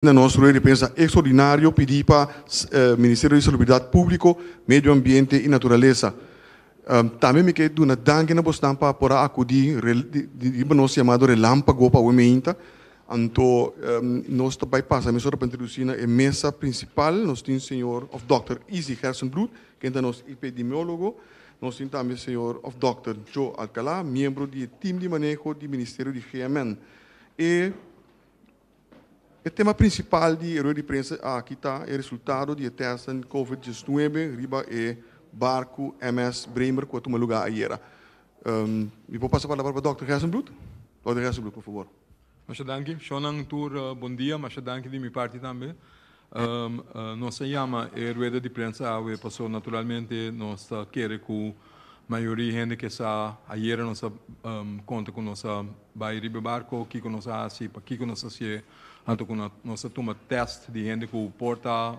Na nos rueda di prensa extraordinario pidi pa Ministerio di Salubridad Publico, Medio Ambiente y Naturaleza. Tambe mi ke duna danki na bosnan pa por a akudí riba nos yamado relámpago pa awor meinta. Anto nos ta bai pasa mesora pa introdusí na e mesa principal. Nos tin señor of Dòkter Izzy Gersenbloed, ken ta nos epidemiólogo. Nos tin tambe señor of Dòkter Joe Alcalá, miembro di e tim di maneho di Ministerio di GMN. E. E tema prinsipal di e rueda di prensa aki ta e resultado di e tèstnan covid diesnuebe riba e barku MS Bremer ku a tuma lugá ayera. Mi por pasa palabra pa dòkter Gerssenbloed? Dòkter Gerssenbloed, por fabor. Masha danki. Shònan tur bon dia. Masha danki di mi parti tambe. Nos a yama e rueda di prensa awe paso naturalmente nos ta kere cu mayoria hende ke sa. Ayera nos a conta cu nos a bay riba e barco, kico nos a haci, pakico nos a haci'e, anto cu nos a tuma test di hende cu por ta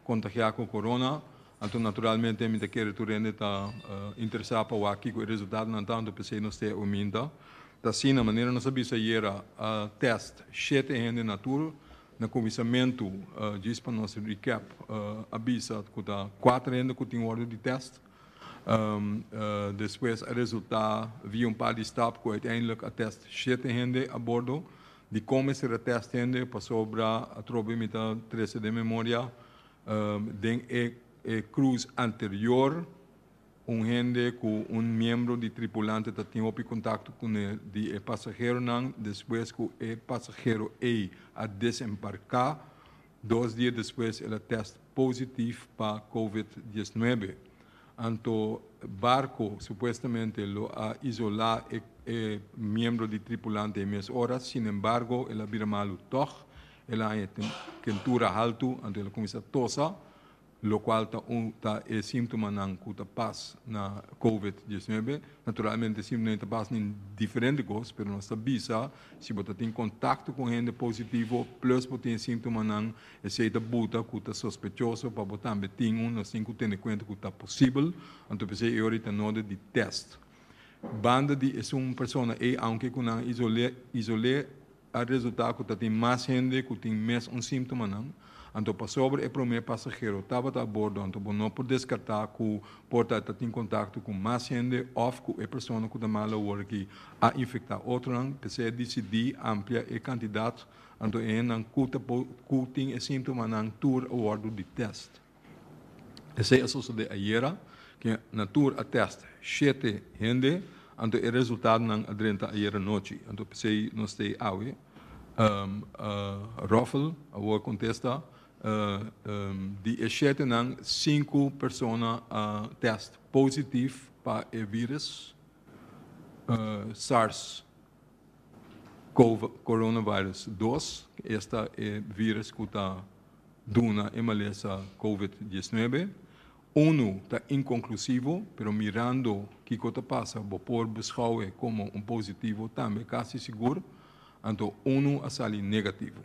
contagia cu corona. Anto naturalmente mi ta kere tur hende ta interesa pa wak kico e resultatonan ta, anto p'esey nos t'e huminta. Ta asina, manera nos a bisa ayera, a test shete hende na tur Na kuminsamentu djis pa nos recap a bisa ku ta kuater hende ku tin wòrdu di tèst. Despues a resultá via un par di stap ku uiteindelik a tèst shete hende abordo. Di kon mester a tèst hende pasobra atrobe mi ta trese den memoria den e kruz anterior. Un hende ku un miembro di tripulante ta tin hopi kontakto ku ne di e pasaheronan despues ku e pasahero ei a desembarká, dos dia despues el a tèst positif pa kòwid dieznuebe. Anto barko supuestamente lo a isolá e miembro di tripulante ei mes ora, sinembargo el a bira malu tòg, el a haña tentura haltu, anto el a kuminsá tosa, locual ta un ta e sintomanan cu ta pas na covid diesnuebe, naturalmente sintomanan ta pas na diferente cos, pero nos ta bisa si bo ta tin contacto cu hende positivo plus bo tin e sintomanan esey ta buta cu ta sospechoso pa bo tambe tin un, nos tin cu tene cuenta cu ta posibel, anto p'esey e ora y ta nodig di test. Banda di esun persona ey aunke cu nan isol'e isol'e a resulta cu ta tin mas hende cu tin mes un simptomanan, anto pasobra e prome pasagero tabata a bordo anto bo no por descarta cu por ta ta tin contacto cu mas hende of cu e persona cu ta mal awor aki a infecta otronan, p'esei a dcd amplia e cantidad anto e hendenan cu ta por cu tin e simptomanan tur a wordo detest. Esei a sosode ayera, ke na tur a test shete hende, anto e resultatonan a drenta ayera nochi. Anto p'esei nos stay awe. Ruffel a wou kontesta, di e shetenan sinku persona a test positif pa e virus, sars. Coronavirus dos, esta e virus cu ta duna e malesa Covid diesnuebe. Unu ta inconclusivo, pero mirando kico ta pasa bo por buschaue como un positivo tambe casi sigur, anto unu a sali negativo.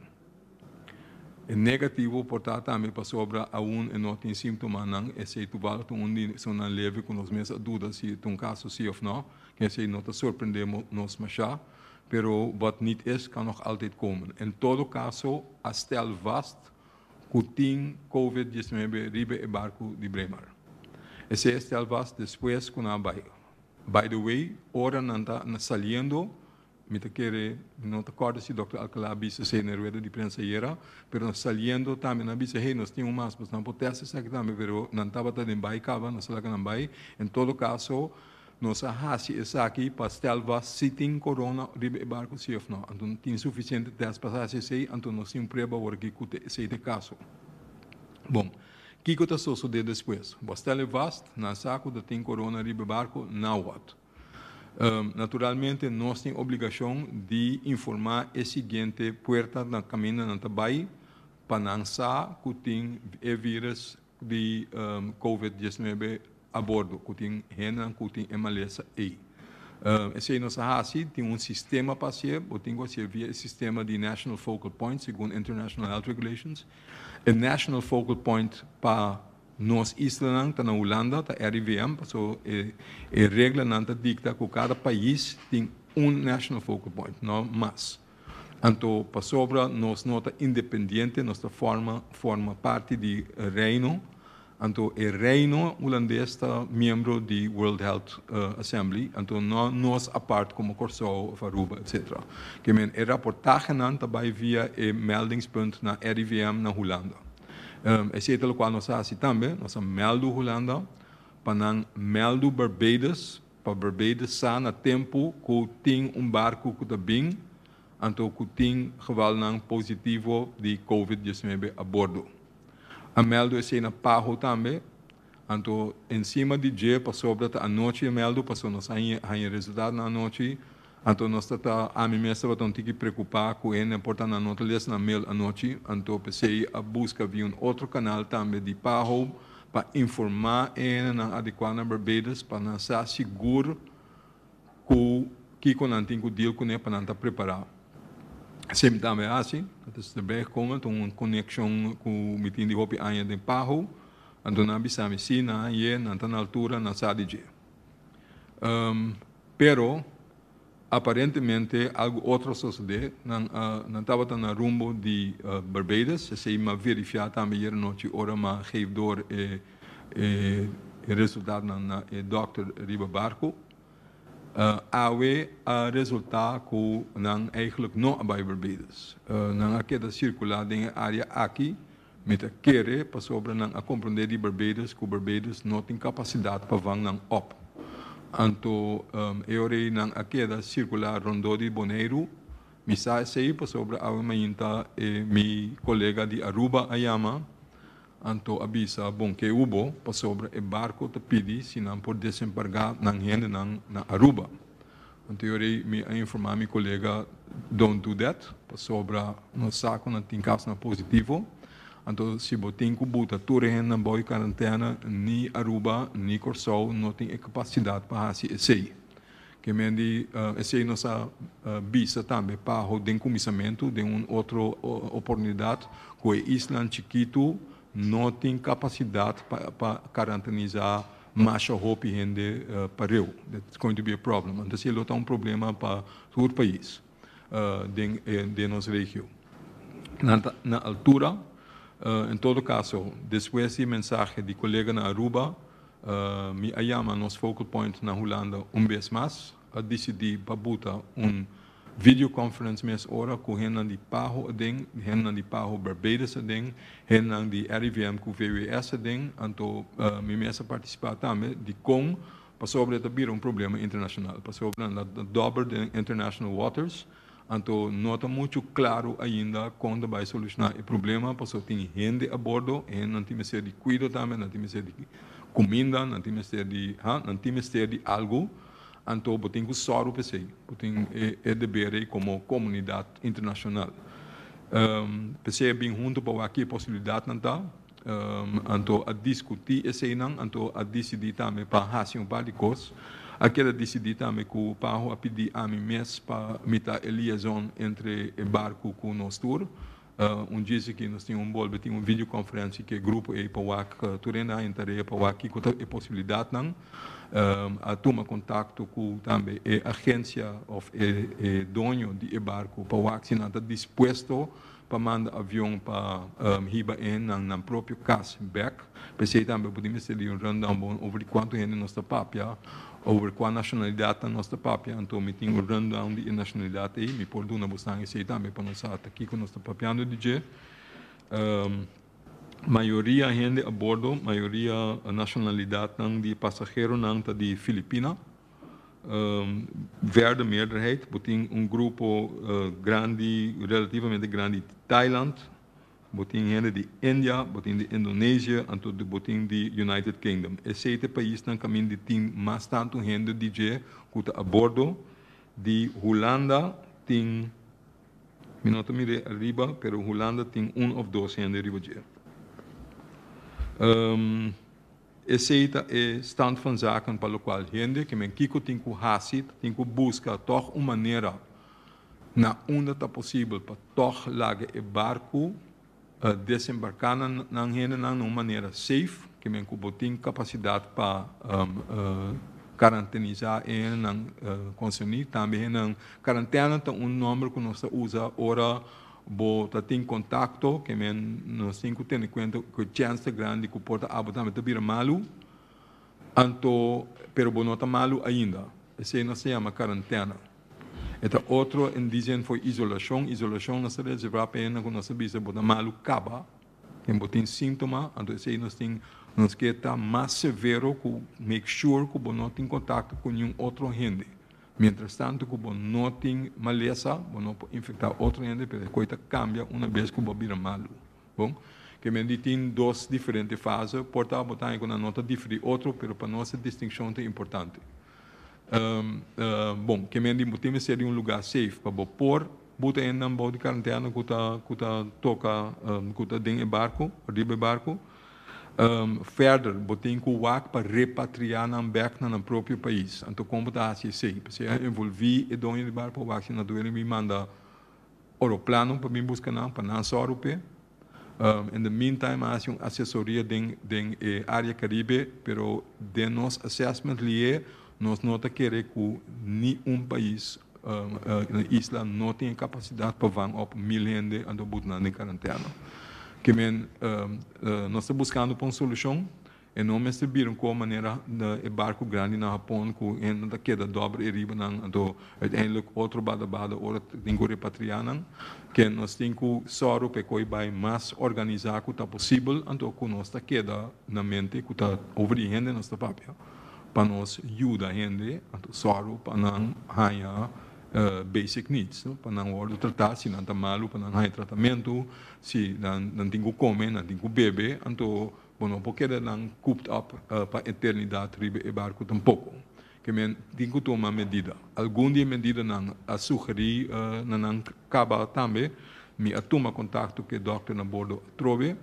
E negativo por ta tambe pasobra aun e no tin simptomanan, esei tubalg ta un di esunnan leve cu nos mes a duda si ta un caso si of no, Mesei no ta sorprendé nos mashá, pero wat nit es kan nog altyd komen. En todo kaso a stèl vast ku tin covid diecinuebe riba e barku di Braemar. Esei a stèl vast despues ku nan a bai. By the way, ora nan ta na saliendo Mi ta kere, mi no ta kòrda si Dòkter Alcalá a bisa esei na e rueda di prensa ayera, pero nos saliendo tambe nan a bisa, hey, nos tin un mas, nos nan por tèst esaki tambe, pero nan tabata den bai kaba, no sa laka nan bai. En todo kaso, nos a hasi esaki pa stèl vast si tin corona riba e barku si òf nò. Anto tin sufisiente tèst pa hasi esei, anto nos tin un prueba awor aki ku ta esei ta e kaso. Bon, kiko ta sosodé despues? Bo a stèl e vast, nan a sa ku ta tin corona riba e barku? Náhuatl. Naturalmente nos tin obligacion di informa e siguiente puerta na caminda nan ta bay pa nan sa cu tin e virus di covid diesnuebe a bordo, cu tin hendenan cu tin e malesa ey. Esey nos a haci, tin un sistema pa haci e, bo tin cu haci e via e sistema di National Focal Point segun International Health Regulations. E National Focal Point pa Nos islanan ta na Hulanda, ta RIVM, paso e e reglanan ta dikta ku kada pais tin un national focal point, no mas. Anto pasobra nos no ta independiente, nos ta fòrma fòrma parti di Reino, anto e Reino Hulandes ta miembro di World Health Assembly, anto no nos apart komo Kòrsou òf Aruba, etsetera. Ke men e raportahenan ta bai via e meldingspunt na RIVM na Hulanda. Esei ta lokual nos a hasi tambe, nos a mèldu Hulanda pa nan mèldu Barbados, pa Barbados sa na tempu ku tin un barku ku ta bin anto ku tin gevalnan positivo di Covid diesnuebe a bordo. A mèldu esei na Paho tambe. Anto ensima di dje pasobra ta anochi, Imeldo, paso nos a haña resultadnan anochi, anto nos ta ta, ami mes tabata un tiki preocupa cu hende a por ta na anota les na mail anochi, anto p'esey a busca via un otro canal tambe di Paho pa informa e hendenan adecuá na Barbados pa nan sa sigur. Ku kiko nan tin ku deal kuné pa nan ta prepará? Semi ta me hasi, nan ta strebé kon anto un konekshon ku mi tin di hopi aña den Paho, anto nan a bisa mi sí, nan a yé, nan ta na altura, nan sa di dje. Pero, aparentemente algu otro a sosodé, nan a, nan tabata na rumbo di Barbados, esei m'averifia tambe yera nochi ora m'a geef door e. E resultadonan na e dòkter riba barku awe a resultá ku nan eigentlik no a bai Barbados. Nan a keda sirkulá den e área aki mi ta kere pasobra nan a komprondé di Barbados ku Barbados no tin kapasidat pa vang nan òp. Anto e ora ei nan a keda sirkulá rondó di Boneiru. Mi sa esei pasobra awe mañan ta mi kolega di Aruba a yama Anto a bisa, Bon ke hu bo, pasobra e barco ta pidi si nan por desembarga nan hendenan na Aruba. Anto yo rei mi a informa mi colega, Don't do that, pasobra nos sa cu nan tin casnan positivo. Anto si bo tin cu buta tur e hendenan bou e carantena, ni Aruba ni Corsou no tin e capacidad pa haci esey. Kemen di esei nos a bisa tambe Paho den kuminsamentu den un otro oportunidat ku e islan chikitu no tin kapasidat pa karantinisá masha hopi hende pareu. That's going to be a problem. Anto si e lo ta un problema pa tur pais. den e den nos regio. Nan ta na altura, en todo caso despues di e mensahe di colega na Aruba, mi a yama nos focal point na Hulanda un bes mas, a dicidi pa buta un video conference mes ora cu hendenan di Paho aden, hendenan di Paho Barbados aden, hendenan di RIVM cu VWS aden, anto mi mes a participa tambe dicon Pasobra e ta bira un problema internashonal, pasobra nan ta dòber den international waters, anto no ta muchu klaru ainda kon ta bai solushoná e problema, pasobra tin hende abordo, e hendenan tin mester di kuido tambe, nan tin mester di kuminda, nan tin mester di ha, nan tin mester di algu, anto bo tin ku sòru pa esei, bo tin e deber ei komo komunidat internashonal. P'esei a bin huntu pa wak ki e posibilidatnan ta, Anto a diskutí eseinan, anto a disidí tambe pa hasi un par di kos. A keda disidí tambe ku Paho a pidí ami mes pa mi ta e liaison entre e barku ku nos tur. Un djis aki nos tin un bolbe tin un videokonferensia ku e grupo ei pa wak, tur hende a haña tarea pa wak kiko ta e posibilidatnan. A tuma kontakto ku tambe e agensia òf e doño di e barku pa wak si nan ta dispuesto pa manda avion pa hiba e nan nan propio cas bek, p'esey tambe bo tin mester di un rundown bon over di cuanto hende nos ta papia, over cua nacionalidadnan nos ta papia, anto mi tin un rundown di e nacionalidad ey, mi por duna bosan esey tambe pa nos sa ta kico nos ta papiando di dje. Mayoria hende a bordo, mayoria nacionalidadnan di pasageronan ta di Filipina. verde meerderheid, bo tin un grupo grandi, relativamente grandi di Thailand, bo tin hende di India, bo tin di Indonesia, anto bo tin di United Kingdom. Esei ta e paisnan kaminda di tin mas tantu hende di dje ku ta abordo. Di Hulanda tin, mi no ta mir'é ariba, pero Hulanda tin un òf dos hende riba dje. Esei ta e stand van zaken pa lokual hende ke men kiko tin ku hasi ta tin ku buska tòg un manera na unda ta posibel pa tòg laga e barku desembarká nan hendenan na un manera seif, ke men ku bo tin kapasidat pa karantenizá e hendenan konserní. Tambe hendenan, karantèna ta un nòmber ku nos ta usa ora Bo ta tin kontakto ke men no sin ku tene kuenta ku e chènster grandi ku por ta abo tambe ta bira malu, anto pero bo no ta malu ainda. Esei no a ser yama karantèna. E ta otro e dise en for isolashon. Isolashon no a ser reservá pa hendenan ku nos a bisa bo ta malu kaba. Ken bo tin síntoma, anto esei nos tin, nos ke ta mas severo ku make sure ku bo no tin kontakto ku niun otro hende. Mientras tanto cu bo no tin malesa, bo no por infecta otro hende, pero e coy ta cambia una bes cu bo bira malu. Bon, que mende tin dos diferente fase, por ta bo ta ange cu nan no ta dife di otro, pero pa nos e distincion ta importante. Bon, que mende bo tin mester di un lugar safe pa bo por buta hendenan bou di cuarentena cu ta, cu ta toca, cu ta den e barco, riba e barco. Ferder, bo tin ku wak pa repatriá nan bèk na nan propio pais. Anto kon bo ta hasi esei? P'esei a envolví e doño di bar pa wak si na duele mi manda oroplano pa bin buska nan, pa nan sòru p'e. In the meantime a hasi un asesoria den den e área Caribe, pero den nos assessment lié Nos no ta kere ku ni un pais na isla no tin e kapasidat pa van op mil hende a dor butnan den karantèna. Ke men nos ta buskando pa un solushon, e no mester bira un kor manera e barku grandi na Hapon ku hende ta keda dòber e riba nan anto uiteindelik otro bada bada ora tin ku repatriá nan. Ke nos tin ku sòru pa e koi bai mas organisá ku ta posibel anto ku nos ta keda na mente ku ta over di hende nos ta papia. pa nos yuda hende, anto sòru pa nan haña basic needs, no, pa nan wòrdu tratá, si nan ta malu pa nan haña tratamentu, si nan nan tin ku kome, nan tin ku bebe, anto bo no por keda nan cooped up pa eternidat riba e barku tampoko. Ke men tin ku tuma medida. Algun di e medidanan a sugerí na nan kaba tambe. Mi a tuma kontakto ku e dòkternan bordo atrobe.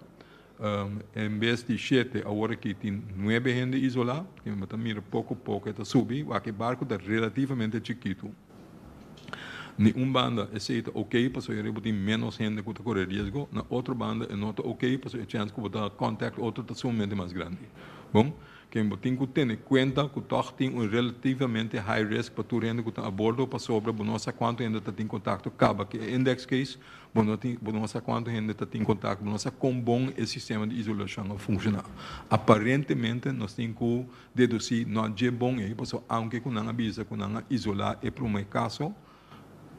En bes di shete awor aki tin nuebe hende isolá. Mi bo ta mira poko poko e ta subi. Wak e barco ta relativamente chikitu. Di un banda esei ta ok pasobra e riba tin ménos hende ku ta kore riesgo. Na otro banda e no ta ok pasobra e chèns ku bo ta kòntak otro ta sumamente mas grandi. Bon, ke bo tin ku tene kuenta ku tòg tin un relativamente high risk pa tur hende ku ta abordo pasobra bo no sa kuantu hende ta tin kontakto kaba ku e index case Bo no tin, bo no sa cuanto hende ta tin contacto, bo no sa con bon e sistema di isolacion a funciona. Aparentemente nos tin cu deduci no dje bon ey, pasobra aunke cu nan a bisa cu nan a isola e prome caso,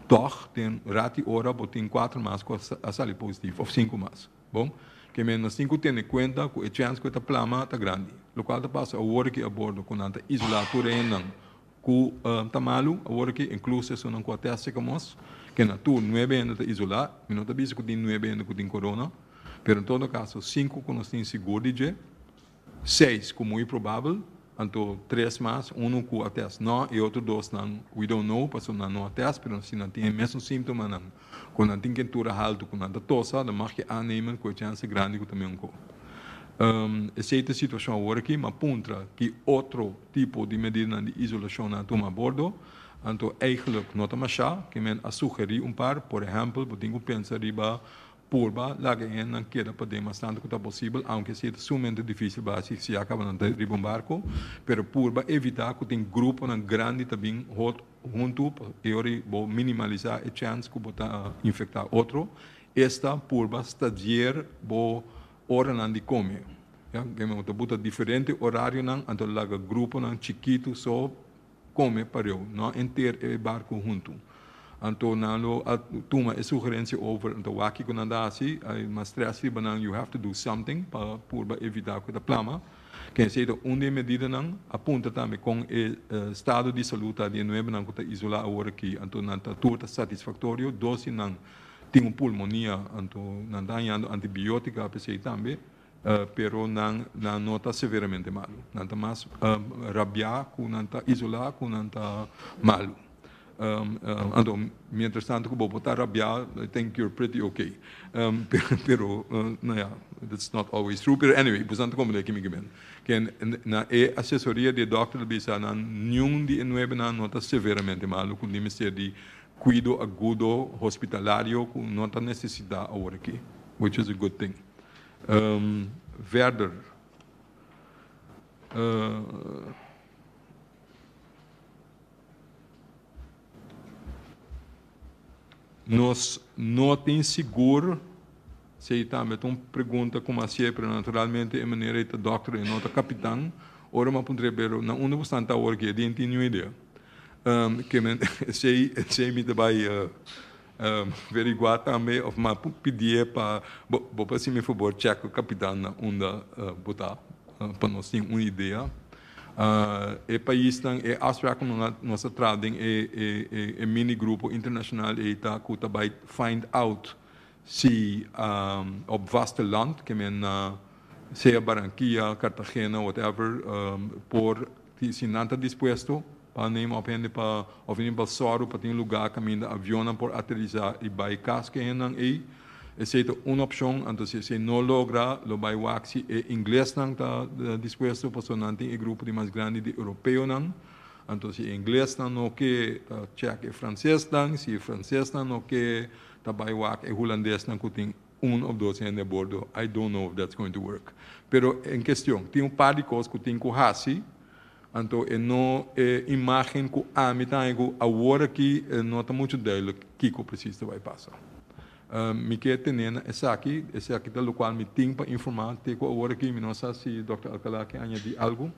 tog den rat y ora bo tin cuatro mas cu a sali positivo, of cinco mas. Bon, keme nos tin cu tene cuenta cu e chance cu e ta plama ta grandi. Locual ta pasa awor aki abordo cu nan ta isola tur e hendenan. Ku ta malu awor aki, inkluso esunnan ku a tèstja ku mos ke na tur nuebe hende ta isolá. Mi no ta bisa ku tin nuebe hende ku tin corona, pero en todo kaso sinku ku nos tin sigur di dje, seis ku muy probabel, anto tres mas, unu ku a tèst nò i otro dosnan we don't know pasobra nan no a tèst, pero si nan tin e mesun símtomanan Cu nan tin kentura haltu cu nan ta tosa, nan mag ke aanemen cu e chance grandi cu ta mion cu. Esey ta e situacion awor aki, ma puntra ki otro tipo di medidanan di isolacion nan a tuma abordo, anto eigenlijk no ta masha, ke men a sugeri un par, por ehempel, bo tin cu pensa riba purba laga e hende nan keda paden mas tantu cu ta posibel, aunke esey ta sumamente dificil basi si ya caba nan ta riba un barco, pero purba evita cu tin gruponan grandi ta bin hot. Huntu yori bo minimalisa e chèns ku bo ta infektá otro. Esta purba stadier bo oranan di kome. Bo ta buta diferente orarionan, anto laga gruponan chikitu so kome pareu, no enter e barku huntu. Anto nan lo a tuma e sugerensia over, anto wak kiko nan ta hasi, mas strès riba nan, you have to do something pa purba evitá ku e ta plama. Ke esei ta un di e medidanan, a punta tambe kon e stado di salú ta di e nuebenan ku ta isolá awor aki, anto nan ta tur ta satisfaktorio, dos si nan tin un pulmonia, anto nan ta hañando antibiótika a pesei tambe, pero nan nan no ta severamente malu, nan ta mas rabiá ku nan ta isolá ku nan ta malu. Anto, mientras tanto cu bo por ta rabia, I think you're pretty ok. Pero, no ya, that's not always true. Pero anyway, bosan ta comprende aki mi ke bini. Ke na e asesoria di e dokter ta bisa nan niun di e nuebe nan no ta severamente malu cu di mester di cuido agudo hospitalario cu no ta necesita awor aki, which is a good thing. Verder, Nos no tin sigur si ei tambe ta un pregunta ku mas siempre naturalmente e manera ei ta dòkter i no ta kapitan. Ora m'a puntra ei pero na unda bo stan ta awor ki e di? N'tin niun idea. Ke men esei esei mi ta bai Verigua tambe of mas por pidié pa bo por haci'mi fabor check cu capitannan unda bo ta pa nos tin un idea. E paisnan, e afspraak cu nos a traha den e mini grupo internacional ey ta cu ta bay find out si op vasteland, ke men na sea Barranquilla, Cartagena, whatever, por. Si nan ta dispuesto pa neem of hende pa of e neem pa sòru pa tin lugá kaminda avionnan por aterisá i bai kas ku e hendenan ei, esei ta un opshon. Anto si esei no logra, lo bai wak si e inglesnan ta dispuesto pasobra nan tin e grupo di mas grandi di europeonan. Anto si e inglesnan no ke, ta chèk e fransesnan. Si e fransesnan no ke, ta bai wak e hulandesnan ku tin Un of dos hende abordo, I don't know if that's going to work. Pero en kestion, tin un par di kos ku tin ku hasi, anto e no e imágen ku ami ta haña ku awor aki e no ta muchu dùilik kiko presis ta bai pasa. Mi ke tene na esaki, esaki ta lokual mi tin pa informá te ku awor aki, mi no sa si Dòkter Alcalá ke añadí algu.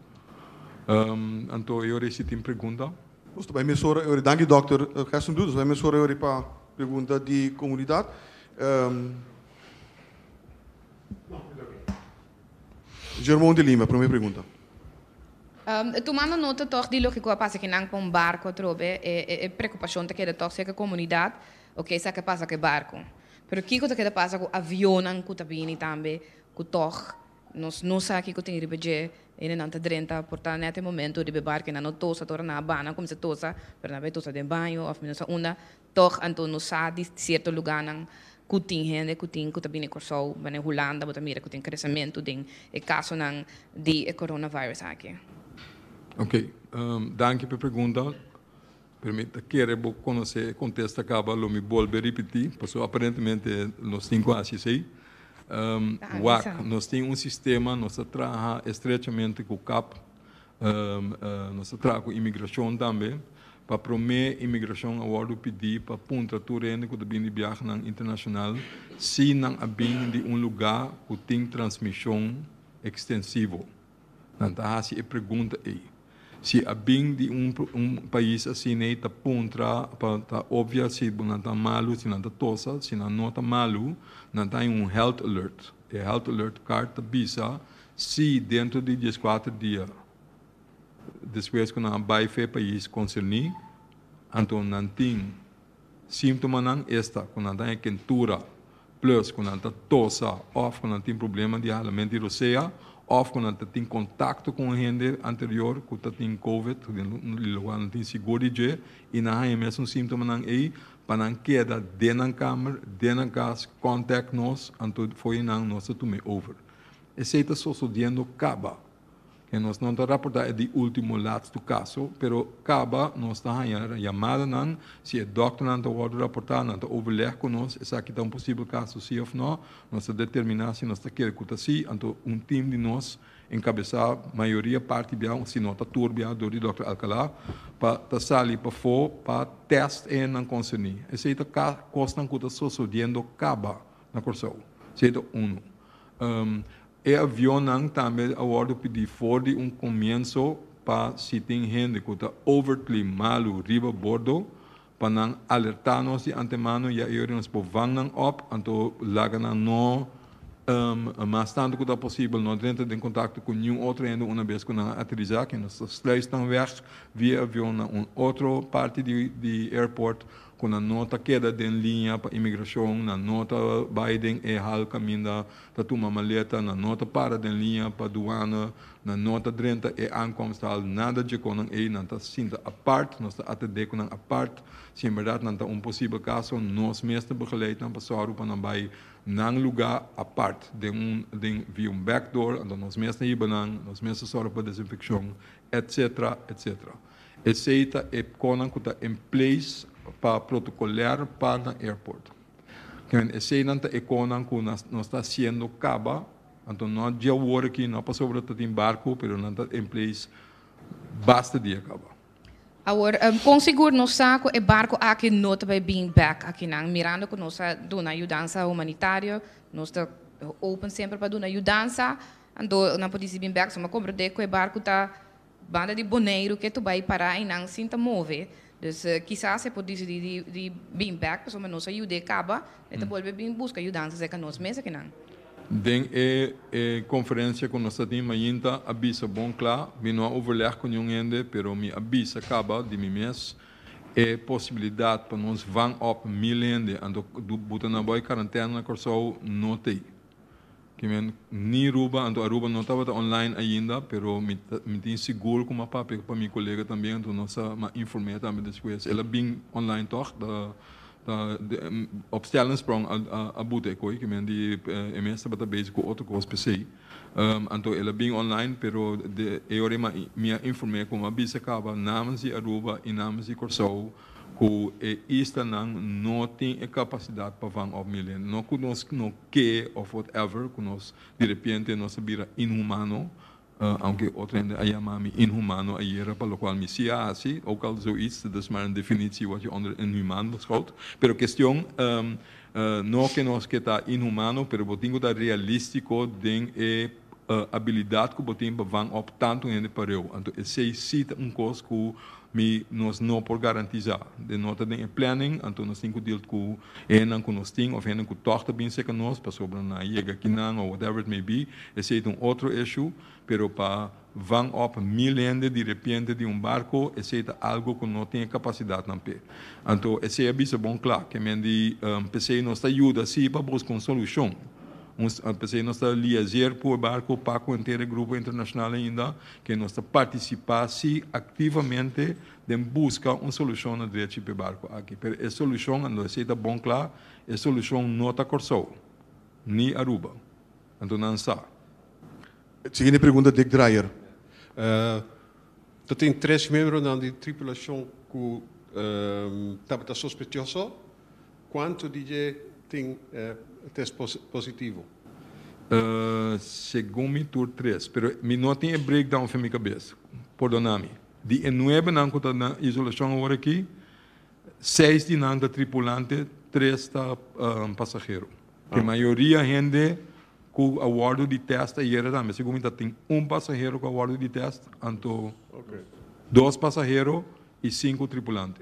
Anto e ora ei si tin pregunta. Nos ta bai mes ora e ora. Danki Dòkter Gerson Brutus, nos ta bai mes ora e ora pa. Pregunta di komunidat. Germon de Lima, promé pregunta. Tumando nota tòg di loke ku a pasa ku nan ku un barko atrobe, e prekupashon ta keda tòg si eke komunidat o ke sa ke pasa ku e barko. Pero kiko ta keda pasa ku avionnan ku ta bini tambe ku tòg Nos no sa kico tin riba dje ene nan ta drenta por ta net e momento riba e barco enan no tosa ta ora nan a bana cuminsa tosa pero nan a bay tosa den baño of nos a unda toch anto nos sa di cierto lugarnan cu tin hende cu tin cu ta bini Corsou banda den Hulanda bo ta mira cu tin crecemento den e casonan di e coronavirus aki. Ok danki p'e pregunta. Pero mi ta kere bo konosé e kontesta kaba lo mi bolbe ripití, pasobra aparentemente nos tin ku hasi esei. Wak, nos tin un sistema, nos ta traha estrechamente ku kap, nos ta traha ku imigrashon tambe. Pa promé, imigrashon a wòrdu pidí pa puntra tur hende ku ta bini di biahanan internashonal si nan a bini di un lugá ku tin transmishon ekstensivo. Nan ta hasi e pregunta ei. Si a bin di un un pais asina ei ta puntra pa ta obvia si bo nan ta malu, si nan ta tosa, si nan no ta malu, nan ta haña un health alert. E health alert card ta bisa si dentro di dieskuater dia despues ku nan a bai for e pais konserní, anto nan tin. Sintomanan esta cu nan ta haya kentura plus cu nan ta tosa of cu nan tin problema di halament di rosea of cu nan ta tin contacto cu un hende anterior cu ta tin covid den un lugar nan tin sigur di dje y nan haya mes un sintomanan ey pa nan keda den nan kamer, den nan cas contact nos anto fo'i nan nos ta tume over. Esey ta sosodiendo caba. E nos no ta raporta e di ultimo latstu kaso, pero kaba nos ta haña yamadanan, si e dòkternan ta wòrdu raportá, nan ta overleg ku nos esaki ta un posibel kaso sí òf nò, nos ta determiná si nos ta kere ku ta sí, anto un tim di nos enkabesá mayoria parti bia òf si nò ta tur bia dor di dòkter Alcalá pa ta sali pafó pa tèst e nan konserní. Esei ta kosnan ku ta sosodiendo kaba. na Kòrsou. Sei ta unu. E avionnan tambe a wòrdu pidi for di un komienso pa si tin hende ku ta overtly malu riba bordo pa nan alertá nos di antemano ya e ora nos por vang nan op, anto laga nan no mas tantu ku ta posibel no drenta den kontakto ku niun otro hende una bes ku nan a aterisá, kende ta sluis nan wèg via avion na un otro parti di airport. cu nan no ta keda den liña pa imigracion, nan no ta bay den e hal caminda ta tuma maleta, nan no ta para den liña pa duana, nan no ta drenta e aankomsthal, nada dje conan ey, nan ta sinta apart, nos ta atende cu nan apart, si en berdad nan ta un posibel caso, nos mes ta begeleid nan pa sorgo pa nan bay nan luga apart, den un den via un backdoor, anto nos mes ta hiba nan, nos mes ta sorgo pa desinfeccion, etcetera, etcetera. Esey ta e pconan cu ta en place pa protocolear pa na airport. Con eseynan ta e conan cu nos ta siendo caba, anto no dje wor aki, no pasobra ta tin barco, pero nan ta en place basta dia caba. Awor, con sigur nos sa cu e barco aki no ta bay bin back akinan, mirando cu nos a duna yudansa humanitario, nos ta open semper pa duna yudansa, anto nan por dici bin back, so mi a comprende cu e barco ta. Banda di Boneiru ke tu bai pará einan sin ta move. Dus kisas e por disidí di bin bèk pasobra nos a yud'é kaba, e ta bolbe bin buska yudansa serka nos mes akinan. Den e e konferensia ku nos a tin mainta a bisa bon kla, mi no a overleg ku niun hende, pero mi a bisa kaba di mi mes, e posibilidat pa nos vang òp mil hende anto buta nan bai karantèna na Kòrsou no t'ei. Ki men ni Ruba, anto Aruba no tabata online ainda, pero mi ta, mi tin sigur ku m'a papia pa mi kolega también, anto nos a, m'a inform'é tambe despues. El a bin online tòg, ta, ta op Stellensprong a, a, a buta e koe ki men di e mes tabata bezig ku otro kos pesei. Anto el a bin online, pero de e ora ei mi a inform'é ku m'a bisa kaba namens di Aruba i namens di Kòrsou, Cu e islanan no tin e capacidad pa van op milen. No cu nos no ke of whatever, cu nos di repiente nos a bira inhumano, aunke otro hende a yama mi inhumano ayera pa locual mi si a haci, ook al zoiets, dat is maar een definitie wat je onder inhumaan beschouwt. Pero cuestion no ke nos ke ta inhumano, pero bo tin cu ta realistico den e. abilidad cu bo tin pa van op tanto hende pareu. Anto esey si ta un cos cu mi nos no por garantiza. Den no ta den e planning, anto nos tin cu deal cu hendenan cu nos tin of hende cu tog ta bin seca nos pasobra nan a yega akinan of whatever it may be, esey ta un otro issue, pero pa van op mil hende di repiente di un barco esey ta algo cu no tin e capacidad nan p'e. Anto esey a bisa bon cla, kemen di p'esey nos ta yuda si pa bus con solucion. Nos a p'esei nos ta liazier por barco Paco henter e grupo internacional ainda ke nos ta participa si activamente den busca un solucion na drechi p'e barco aki. Pero e solucion a lo esei ta bon cla, e solucion no ta Corsou ni Aruba. Anto nan sa. Siguiente pregunta Dick Dreyer. Ta tin tres miembronan di tripulacion cu tabata sospechoso. Cuanto di dje tin test positivo? Segun mi tur tres, pero mi no tin e breakdown fen mi cabes, pordona mi. Di e nuebe nan cu ta na isolacion awor aki, seis di nan ta tripulante, tres ta pasagero. E mayoria hende cu a wordo detest ayera tambe, segun mi ta tin un pasagero cu a wordo detest, anto dos pasagero y cinco tripulante.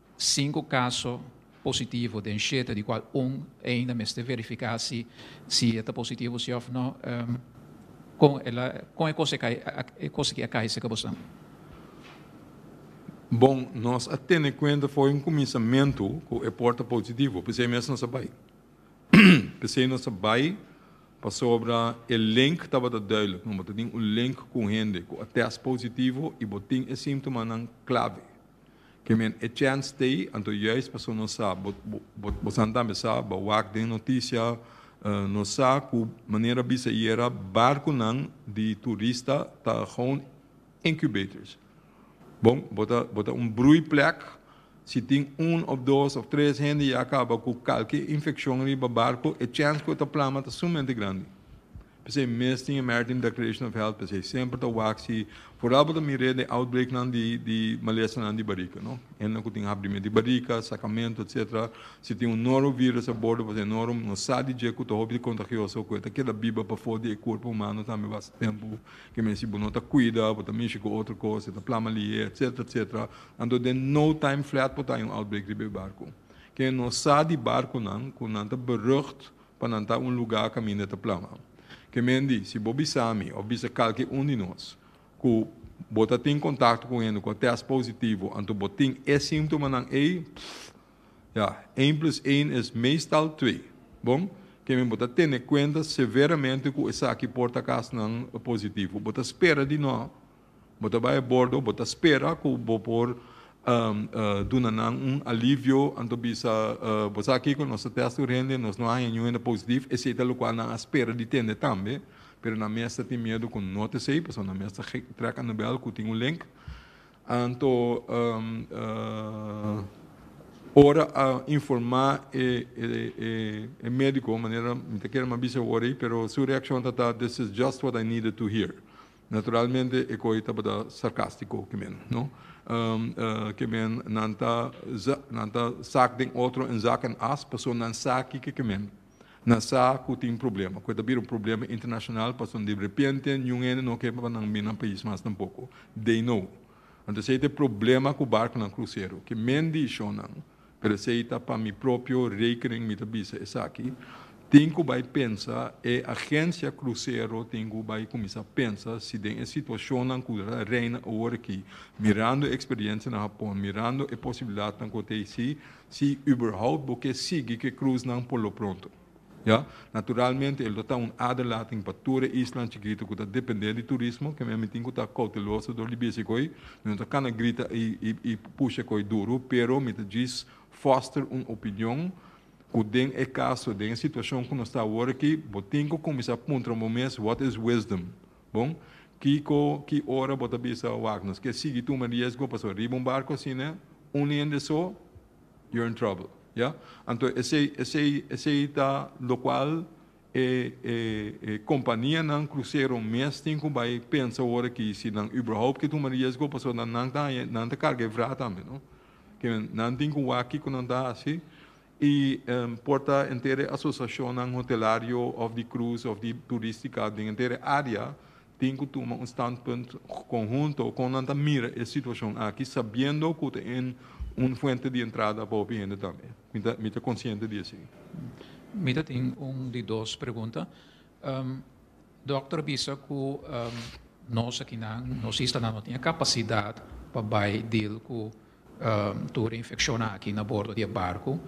Sinku kaso positivo den shete di kual un e ainda mester verifiká si si e ta positivo si òf nò. Kon el a kon e kos e kos aki a kai serka boso? Bon, nos a tene kuenta for un kuminsamentu ku e por ta positivo, p'esei mes nos a bai. P'esei nos a bai pasobra e link tabata duidelik, nan bo ta tin un link ku un hende ku a tèst positivo i bo tin e símtomanan klave. Ke men e chèns t'ei, anto juis paso nos sa, bo bo bosan tambe sa, bo wak den notisia, nos sa ku manera bisa yera barkunan di turista ta gewoon incubators. Bon, bo ta bo ta un broeiplek, si tin un òf dos òf tres hende ya kaba ku kalke infekshon riba barku, e chèns ku e ta plama ta sumamente grandi. P'esei mes tin e American Declaration of Health, p'esei semper ta wak si fora bo ta mir'é den outbreaknan di di malesanan di barika, no. Hendenan ku tin habrimentu di barika, sakamentu, etsetera, si tin un norovirus a bordo boso e noro, no sa di dje ku ta hopi kontagioso, ku e ta keda biba pafó di e kurpu humano tambe basta tempu, ke men si bo no ta kuida, bo ta mishi ku otro kos, e ta plama li'é, etsetera, etsetera. Anto den no time flat por ta haña un outbreak riba e barku. Ke no sa di barkunan ku nan ta berucht, pa nan ta un lugá kaminda ta plama. Ke men di, si bo bisa mi òf bisa kalke un di nos ku bo ta tin kontakto ku hende ku a tèst positivo anto bo tin e símtomanan ei, pff, ya, een plus een es meestal twee. Bon, ke men bo ta tene kuenta severamente ku esaki por ta kas nan positivo. Bo ta spera di no Bo ta bai bordo, bo ta spera ku bo por duna nan un alivio, anto bisa, Bo sa kiko, nos ta tèst tur hende, nos no haña niun hende positif, esei ta lokual nan a spera di tende tambe, pero nan mes ta tin miedu ku no ta esei, pasobra nan mes ta trèk Anabèl ku tin un link. Anto ora a informá e médiko, manera mi ta kere mi a bisa e wòrd ei, pero su reakshon ta ta, this is just what I needed to hear. Naturalmente e koe tabata sarkastico ke men no ke men nan ta nan ta sak den otro en zak en as paso nan sa kiko ke men nan sa ku tin problema koe ta bira un problema internashonal paso derepente niun hende no ke pa nan bina pais mas tampoko they know anto esei ta e problema ku barkonan krusero ke men dishon nan. Pero esei ta pa mi propio rekening mi ta bisa esaki, tin ku bai pensa, e agensia krusero tin ku bai kuminsá pensa si den e situashonnan ku ta reina awor aki, mirando e eksperiensia na Hapon, mirando e posibilidatnan ku ta esei, si überhaupt bo ke sigui ku e krusnan por lo pronto. Ya, naturalmente el lo ta un aderlating pa tur e islan chikito ku ta dependé di turismo, keme mi tin ku ta kouteloso dor di bishi koi. Mi no ta kana grita i pusha koi duru, pero mi ta djis foster un opinion ku den e kaso, den e situashon ku nos ta awor aki, bo tin ku kuminsá puntra bo mes, what is wisdom? Bon, kiko, ki ora bo ta bisa, wak, nos ke sigui tuma riesgo, pasobra riba un barko asina, un hende so, You're in trouble, ya. Anto esei, esei, esei ta locual e, e, e companianan crucero mes tin cu bay pensa ora aki si nan überhaupt ke tuma riesgo, pasobra na nan ta haña, nan ta carga e vraa tambe, no? Ke nan tin cu wak kico nan ta haci, y em, por ta enter e asociacionnan hotelario of di cruise of di turistica den enter e area, Tin cu tuma un standpunt conhunto con nan ta mira e situacion aki, sabiendo cu ta en un fuente di entrada pa hopi hende tambe. Mi ta, mi ta consciente di esey. Mi ta tin un di dos pregunta. Dokter a bisa cu nos akinan, nos istanan no tin e capacidad pa bay deal cu. Tur e infeccionnan aki na bordo di e barco.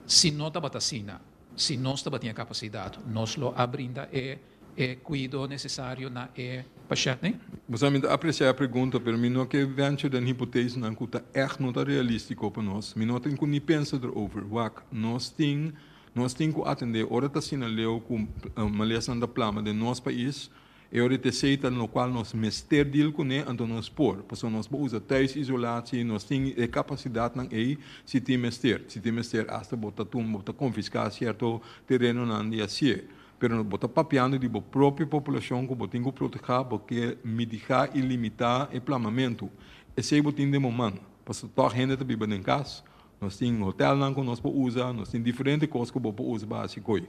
Si no tabata asina, si nos tabatin e capacidad, nos lo a brinda e e cuido necesario na e pashentnan? Bo sa mi ta aprecia e pregunta, pero mi no ke venture den hipotesenan ku ta ègt no ta realístiko pa nos. Mi no tin ku ni pensa derover. Wak, nos tin nos tin ku atendé ora ta asina leu ku malesnan ta plama den nos pais. E ora di tesei ta locual nos mester deal cune, anto nos por, pasobra nos por usa thuisisolatie, nos tin e capacidadnan ey si tin mester, si tin mester hasta bo ta tumba, bo ta confisca cierto terenonan di asie, pero bo ta papiando di bo propio poblacion cu bo tin cu proteha, bo ke midiga y limita e plamamento, esey bo tin den bo man, pasobra tog hende ta biba den cas, nos tin hotelnan cu nos por usa, nos tin diferente cos cu bo por usa basi coy,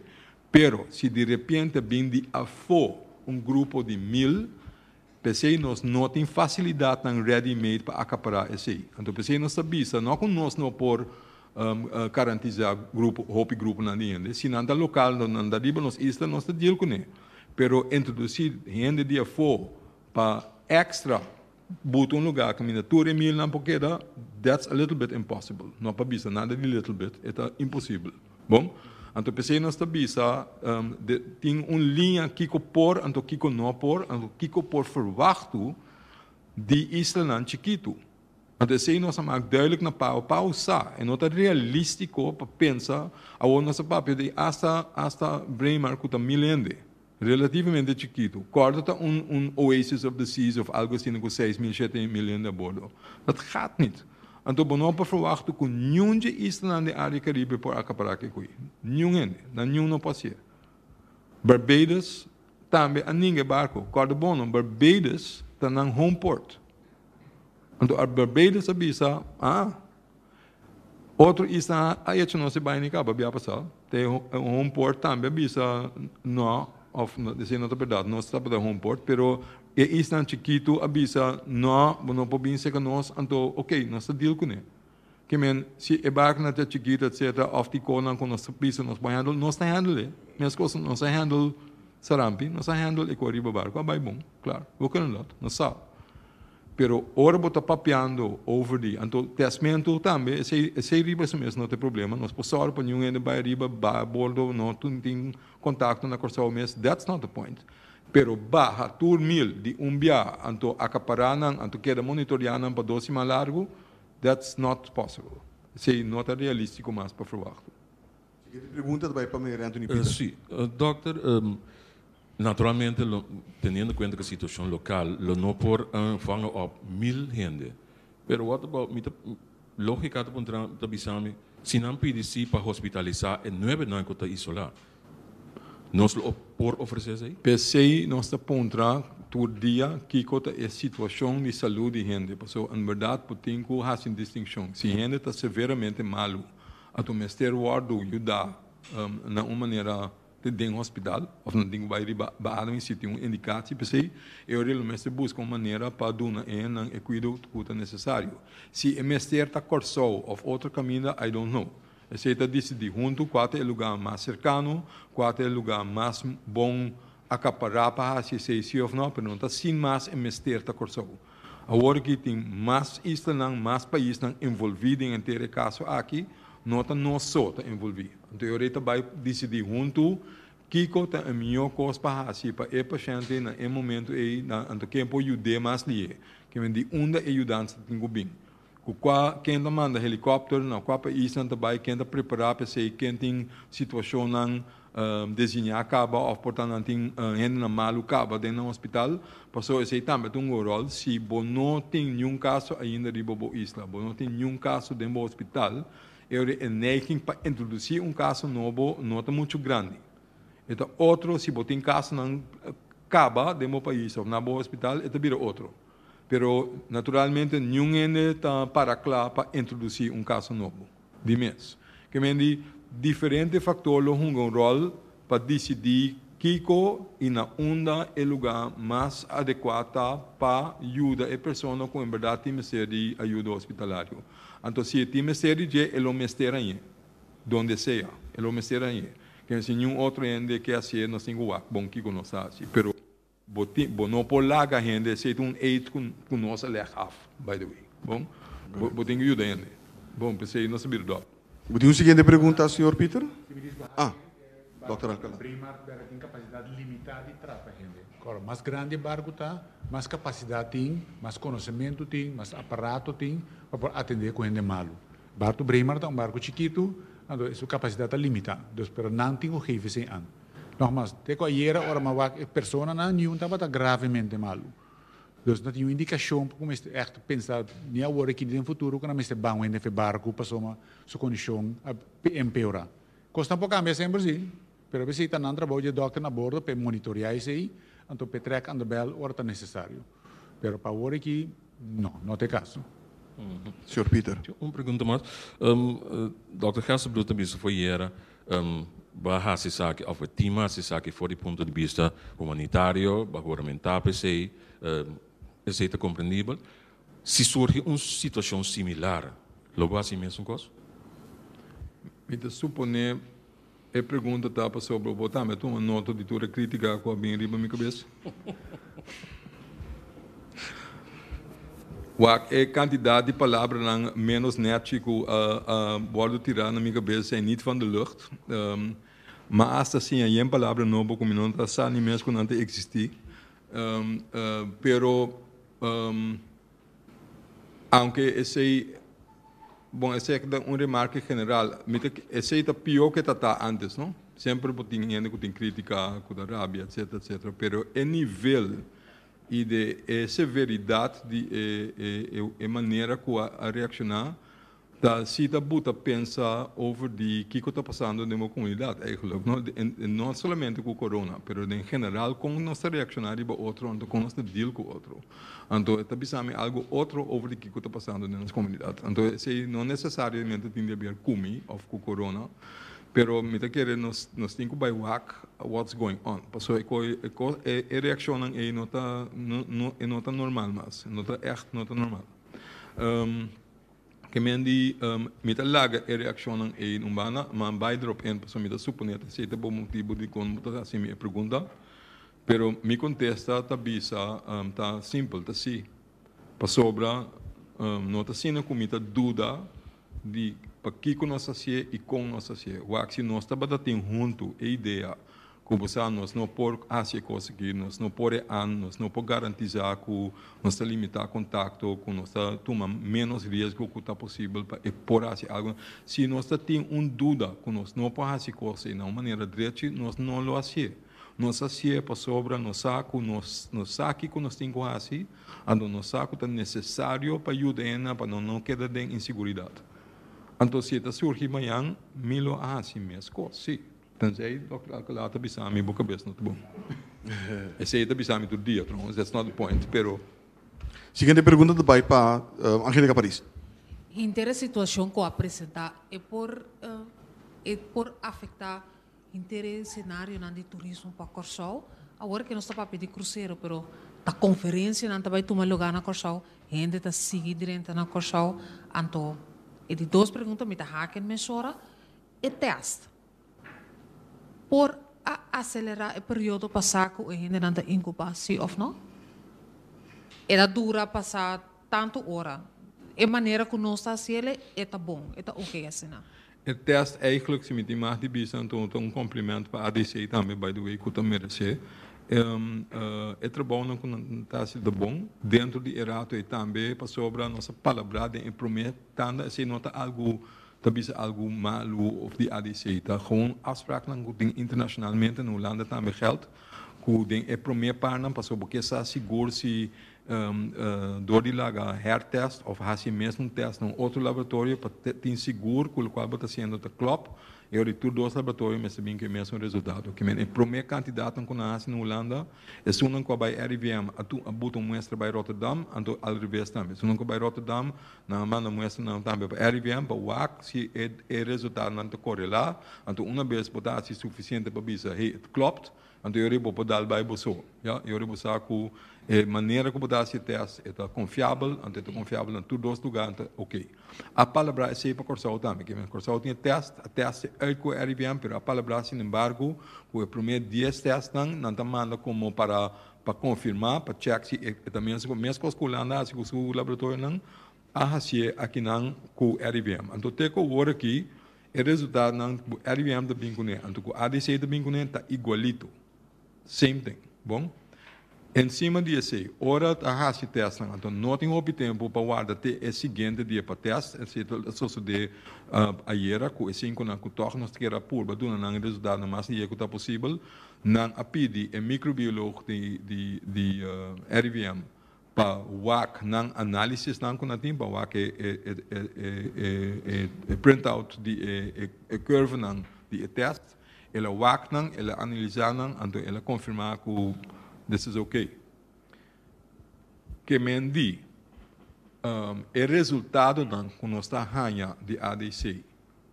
Pero, si di repiente bin di afó un grupo di mil, p'esei nos no tin fasilidatnan ready-made pa acapará esei. Anto p'esei nos ta bisa, no cu nos no por garantizá grupo, hopi gruponan di hende. Si nan ta local, lo nan ta riba nos isla, nos ta deal cun'e. Pero introducí hende di afó pa extra Butu un lugar cu minda tur e milnan por keda, that's a little bit impossible. No a pa bisa nada di little bit, e ta imposible. Bon? Anto p'esei nos ta bisa, um, de, tin un liña kico por, anto kico no por, anto kico por verwachtu di islanan chikitu. Anto esei nos a mak duidelijk na Pao. Pao sa, e no ta realistico pa pensa, awor nos a papia di hasta, hasta Braemar cu ta mil hende. Relativamente chikitu. Kòrdo ta un un oasis of the seas of algo asina ku seis mil, shete mil hende abordo. Dat gaat nit. Anto bo no por ferwachta ku niun dje islanan den área Karibe por akapará ke kui. Niun hende. Nan niun no por hasié. Barbados tambe a ninga e barko. Kòrda bo no, Barbados ta nan home port. Anto as Barbados a bisa, aa. Otro isla a echo nos di baini caba bia pasa, te home port tambe a bisa no of no deci no ta berdad nos ta tabata home port pero e islan chikito a bisa no bo no por bin seca nos anto ok nos ta deal cune ki men si e barconan ta chikito etc of di conan cu nos ta bisa nos por handle nos ta handle mes cosa nos a handle sarampi nos a handle e cu ariba barco a bay bon claro bo kende lo ta nos sa. Pero ora bo ta papiando over di, anto testmento tambe esei esei riba su mes no ta e problema, nos por sòru pa niun hende bai ariba, bai a bordo, no tin tin kontakto na Kòrsou mes, that's not the point. Pero baha tur mil di un bia, anto akapará nan, anto keda monitoreá nan pa dos siman largu, that's not possible. Esei no ta realístiko mas pa ferwagt. Siguiente pregunta ta bai pa Meneer Anthony Pieter. Sí, dòkter, Naturalmente lo teniendo cuenta cu situacion local lo no por vanga op mil hende pero what about mi ta logica ta por entran ta bisami si nan pidi si pa hospitalisa e nuebe nan cu ta isola nos lo por ofrece esey? P'esey nos ta puntra tur dia kico ta e situacion di salud di hende pasobra en berdad bo tin cu haci un distincion si hende ta severamente malu ato mester wordo yuda na un manera den hospital of nan tin cu bay riba baro y si tin un indicatie pesey e ora lo mester busca un manera pa duna e nan e cuido cu ta necesario. Si e mester ta Corsou of otro caminda I don't know. Esey ta dicidi hunto cua ta e lugar mas cercano, cua ta e lugar mas bon acapara pa haci esey si of no pero no ta sin mas e mester ta Corsou. Awor ki tin mas islanan, mas paisnan envolví den henter e kaso aki, no ta nos so ta envolví. Anto e rei ta bai disidí huntu kiko ta e mihó kos pa hasi pa e pashente na e momentu ei, anto ken por yud'é mas lihe, kimen di unda e yudansa tin ku bin. Cu cua, ken ta manda helicopter, na cua paisnan ta bay, ken ta prepara pa esey, ken tin situacionnan designa caba of por ta nan tin hendenan malu caba den nan hospital, pasobra esey tambe ta un go rol, si bo no tin niun caso ainda riba bo isla, bo no tin niun caso den bo hospital, e ora e neiging pa introduci un caso nobo no ta mucho grandi. E ta otro si bo tin casonan caba den bo pais of na bo hospital e ta bira otro. Pero naturalmente niun hende ta para cla pa introduci un casa nobo di mes. Ke men di diferente factor lo hunga un rol pa dicidi kico y na unda e lugar mas adecua ta pa yuda e persona cu en berdad tin mester di ayuda hospitalario. Anto si e tin mester di dje e lo mester aye, donde sea, e lo mester aye. Ke si niun otro hende ke hacié nos tin cu wak bon kico nos ta haci. Pero. Bo tin, bo no por laga hende esei ta un eet ku ku nos a leg af, by the way, bon? Bo bo tin ku yuda hende, bon, p'esei nos ta bira dòk. Bo tin un siguiente pregunta, señor Pieter? Si mi disco Haasen, Ah, Barco Dòkter Alcala. ta bring mas bèra tin kapasidat limitá di trata hende. Kòrda, mas grandi e barku ta, mas kapasidat tin, mas konosementu tin, mas aparato tin pa por atendé ku hende malu. Barco Braemar ta un barco chikitu, anto e su capacidad ta limita, dus pero nan tin cu gefe se an. Nogmas, te cu ayera ora m'a wak e personanan niun tabata gravemente malu. Dus no tin niun indicacion cu mester echt pensa ni awor aki ni den futuro cu nan mester ban wende af e barco pasobra su condicion a empeora. Cos nan por cambia semper si. Pero abes ei ta nan trabou dje dòkter na bordo pa e monitorea esei, anto pa e trèk andabèl ora ta nesesario. Pero pa awor aki, no, no ta e kaso. Señor Pieter. Tin un pregunta mas. Dòkter Gersebloed ta bisa for yera ba hasi esaki of e tin hasi esaki for di punto di bista humanitario, ba guramentá pa esei, esei ta komprendibel. Si surgi un situashon similar, lo bo hasi e mesun kos? Mi ta suponé. E pregunta ta pasobra bo tambe a tuma nota di tur e critica cu a bin riba mi cabes. Wak e cantidad di palabranan menos nerchi cu a a wordo tira na mi cabes zijn niet van de lucht. Um, ma hasta así a yen palabra nobo cu mi no ta sa ni mes cu nan ta existi. Um, uh, pero, um, Aunke esei, bon esei aki ta un remarke general, mi ta ki-, esei ta pio ke ta ta antes no, semper bo tin hende ku tin kritika, ku ta rabia etsetera etsetera, pero e nivel i de e severidat di e manera ku a reakshoná Ta cita bu ta pensa over di kico ta pasando den bo comunidad eigenlijk no? No solamente cu corona, pero den general con nos ta reacciona riba otro anto con nos ta deal cu otro. Anto e ta bisa mi algo otro over di kico ta pasando den nos comunidad. Anto esey no necesariamente tin di haber cu mi of cu corona, pero mi ta kere nos nos tin cu bay wak what's going on. Paso e co e cos e e reaccionnan ey no ta no no e no ta normal mas, no ta echt no ta normal. Ke men di, Mi ta laga e reakshonnan ei un banda, ma bai drop in, pasobra mi ta suponé ta esei ta bo motibu dikon bo ta hasi mi e pregunta. Pero mi kontesta ta bisa, ta simpel, ta sí. Pasobra no ta asina ku mi ta duda di pakiko nos ta hasié i kon nos ta hasié. Wak si nos tabata tin huntu e idea Ku bo sa nos no por hasi e kos aki, nos no por e an, nos no por garantisá ku nos ta limitá kontakto, ku nos ta tuma ménos riesgo ku ta posibel pa e por hasi algu. Si nos ta tin un duda ku nos no por hasi kos ei na un manera drechi, nos no lo hasié. Nos hasié pasobra nos sa ku nos nos sa kiko nos tin ku hasi, anto nos sa ku ta nesesario pa yuda hennan pa nan no keda den inseguridat. Anto si e ta surgi mañan, mi lo a hasi mes kos, sí. Tenzij Dòkter Alcalá ta bisa mi bo kabes no ta bon. Esei ta bisa mi tur dia tròngens, that's not the point, pero. Siguiente pregunta ta bai pa Angelica Paris. Hinter e situashon ku a presentá e por e por afektá hinter e senarionan di turismo pa Kòrsou. Awor ke nos ta papia di krusero pero ta konferensianan ta bai tuma lugá na Kòrsou, hende ta sigui drenta na Kòrsou, anto e di dos pregunta mi ta haki e mesora. E tèst por a aselerá e periodo pa sa ku e hendenan ta inkubá si òf no. E ta dura pa sa tantu ora. E manera ku nos ta hasi el e ta bon, e ta oke asina. E tèst eigentlik, si mi tin mas di bisa, anto ta un komplimènt pa ADC tambe, by the way, ku ta meresé. E trabounan ku nan ta hasi ta bon dentro di e rato ei tambe, pasobra nos a palabrá den e promé tanda, esei no ta algu ta bisa algu malu of di adc ta gewoon afspraknan ku tin internashonalmente, na Hulanda tambe gèld, ku den e promé parnan pasobra bo ke sa sigur si dor di laga hèrtèst of hasi mes un tèst na un otro laboratorio pa tin sigur ku lokual bo ta hasiendo ta klòp, e ora ei tur dos laboratorio mester bin ku e mesun resultado. Kimen e promé kantidatnan ku nan hasi na Hulanda, esunnan ku a bai RIVM a buta un muestra bai Rotterdam, anto al reves tambe. Esunnan ku a bai Rotterdam Nan a manda muestranan tambe pa RIVM pa wak si e resultadonan ta korelá, anto una bes bo ta hasi sufisiente pa bisa, hey, et klopt, anto yori bo por dal bai bo so. Ya, yori bo sa ku e manera ku bo ta hasi e tèst e ta konfiabel, anto e ta konfiabel na tur dos lugá, ta ok. A palabrá esei pa Kòrsou tambe, ke men Kòrsou tin e tèst, a tèst e ey ku RIVM, pero a palabrá sinembargo ku e promé dies tèstnan nan ta manda komo para pa konfirmá, pa chèk si e ta mester ku meskos ku Hulanda hasi ku su laboratorionan, a hasié akinan ku RIVM. Anto te ku wor aki e resultatonan ku RIVM ta bin kuné anto ku ADC ta bin kuné ta igualito, same thing. Bon, ensima di esei, ora ta hasi tèstnan anto no tin hopi tempu pa warda te e siguiente dia pa tèst, esei ta sosodé ayera ku e sinkunan ku tòg nos ta kere a purba duna nan e resultatonan mas lihé ku ta posibel, Nan a pidi e microbiolog di RIVM pa wak nan analisisnan cu nan tin, pa wak e printout di e curvenan di e test. El a wak nan, el a analisa nan, anto el a confirma cu this is ok. Ke men di, e resultadonan cu nos ta haña di ADC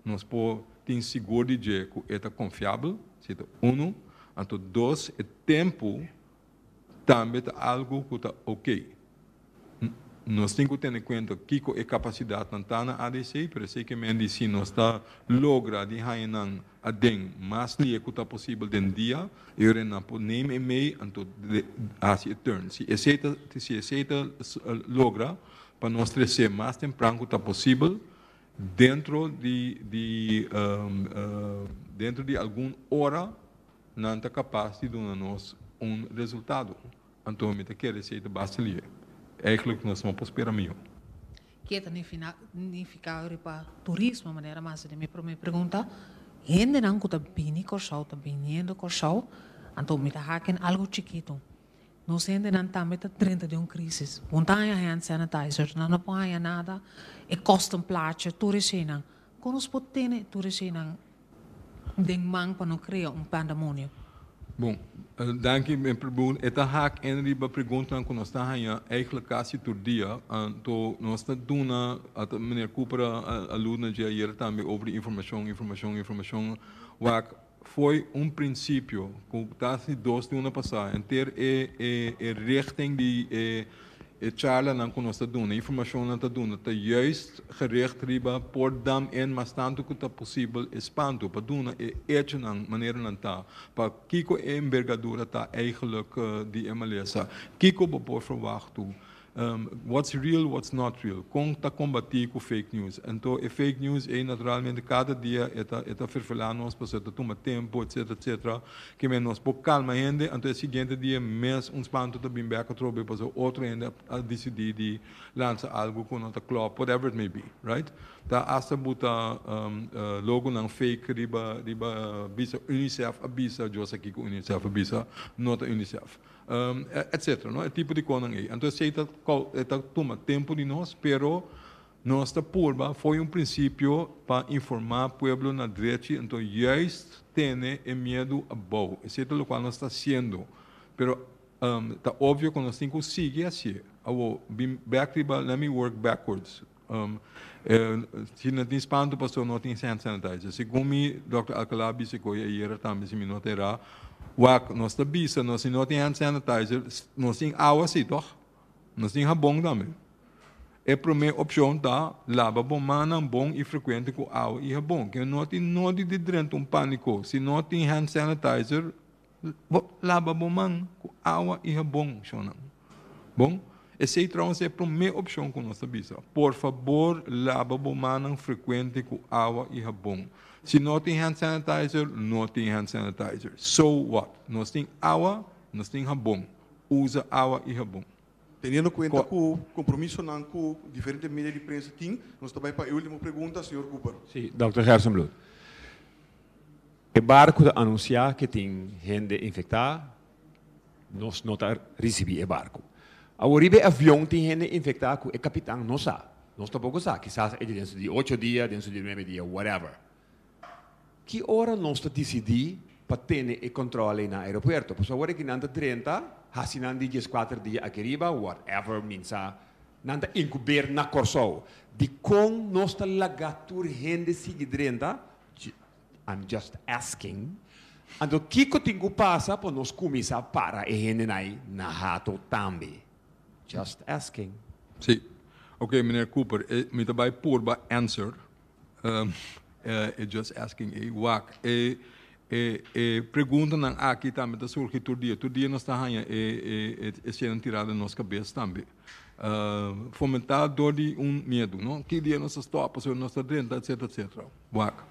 Nos por tin sigur di dje ku e ta konfiabel, si e ta unu, anto dos e tempu tambe ta algu ku ta oke. Nos tin ku tene kuenta kiko e kapasidatnan ta na ADC, pero esei ke men di si nos ta logra di haña nan aden mas lie ku ta posibel den dia, e ora nan por neem e mei, anto hasi e turn. Si esei ta si esei ta logra pa nos trese mas tempran ku ta posibel, Dentro di di dentro di algun ora nan ta kapas di duna nos un resultado. Anto mi ta kere si ei ta basta lihe. Eigenlijk nos no por spera mihó. Ke ta nifikado riba turismo manera masa di mi promé pregunta. Hendenan ku ta bini Kòrsou, ta biniendo Kòrsou. Anto mi ta haki algu chikitu. Nos hendenan tambe ta drenta di un krísis. Bo no ta haña hand sanitizer, nan no por haña nada, e kòsten placha tur e sheinan. Kon nos por tene tur e sheinan den man pa no krea un pandemonio? Bon, danki. E ta hak en riba preguntanan ku nos ta haña eigentlik kasi tur dia. Anto nos ta duna, ata Miner Cooper a alude na dje ayer tambe, over di informashon, informashon, informashon. Wak. Fo'i un principio cu ta si dos luna pasa enter e e e richting di e e charlanan cu nos ta duna, informacion nan ta duna ta juist gericht riba por dam en mas tanto cu ta posibel espanto pa duna e hechonan manera nan ta, pa kico e envergadura ta eigenlijk di e malesa, kico bo por verwacht tu What's real, what's not real, con ta combatí cu fake news. Anto e fake news ey naturalmente cada dia e ta e ta ferfelá nos pasobra e ta tuma tempo etcetera etcetera, que men nos por calma hende, anto e siguiente dia mes un spanto ta bin bek atrobe pasobra otro hende a a dicidí di lansa algo cu no ta clop, whatever it may be, right? Ta hasta bo ta logonan fake riba riba bisa UNICEF a bisa, yo a sa kico UNICEF a bisa, no ta UNICEF. etcetera no e tipo di conan ey. Anto esey ta ta tuma tempo di nos pero nos ta purba fo'i un principio pa informa pueblo na drechi anto juist tene e miedu abou esey ta locual nos ta haciendo pero ta obvio cu nos tin cu sigui haci awor bin back riba let me work backwards Si no tin spantu pasobra no tin hand sanitizer. Segun mi Dòkter Alcalá a bisa koe ayera tambe si mi no ta erá. Wak nos ta bisa nos si no tin hand sanitizer nos tin awa si tòg? Nos tin habon tambe. E promé opshon ta laba bo mannan bon i frekuente ku awa i habon. Ke no tin nodi di drenta un pániko si no tin hand sanitizer. Bo laba bo man ku awa i habon, shonnan. Bon, esei trouwens ta e promé opshon ku nos ta bisa. Por fabor laba bo mannan frekuente ku awa i habon. Si no tin hand sanitizer, no tin hand sanitizer. So what? Nos tin awa, nos tin habon. Usa awa i habon. Teniendo cuenta cu compromisonan cu diferente media di prensa tin, nos ta bay pa e ultimo pregunta, señor Cooper. Si, Dòkter Hersenbloed. E barco ta anuncia que tin hende infecta, nos no ta ricibi e barco. Awor riba e avion tin hende infecta cu e capitan no sa, nos tampoco sa, quizás e di den su di ocho dia, den su di nuebe dia, whatever. Ki ora nos ta disidí pa tene e kòntròle na aeropuerto? Pasobra awor aki nan ta drenta, hasi nan di dies kuater dia aki riba, whatever min sa, nan ta inkuber na Kòrsou. Dikon nos ta laga tur hende sigui drenta? I'm just asking. Anto kiko tin ku pasa pa nos kuminsá para e henden ai na hato tambe? Just asking. Sí. Oké, Meneer Cooper, e mi ta bai purba answer, E just asking ei wak. E e preguntanan aki tambe ta surgi tur dia. Tur dia nos ta haña e e sienan tirá den nos kabes tambe. Fomentá dor di un miedu, no? Ki dia nos ta stòp pasobra nos ta drenta, etsetera, etsetera. Wak.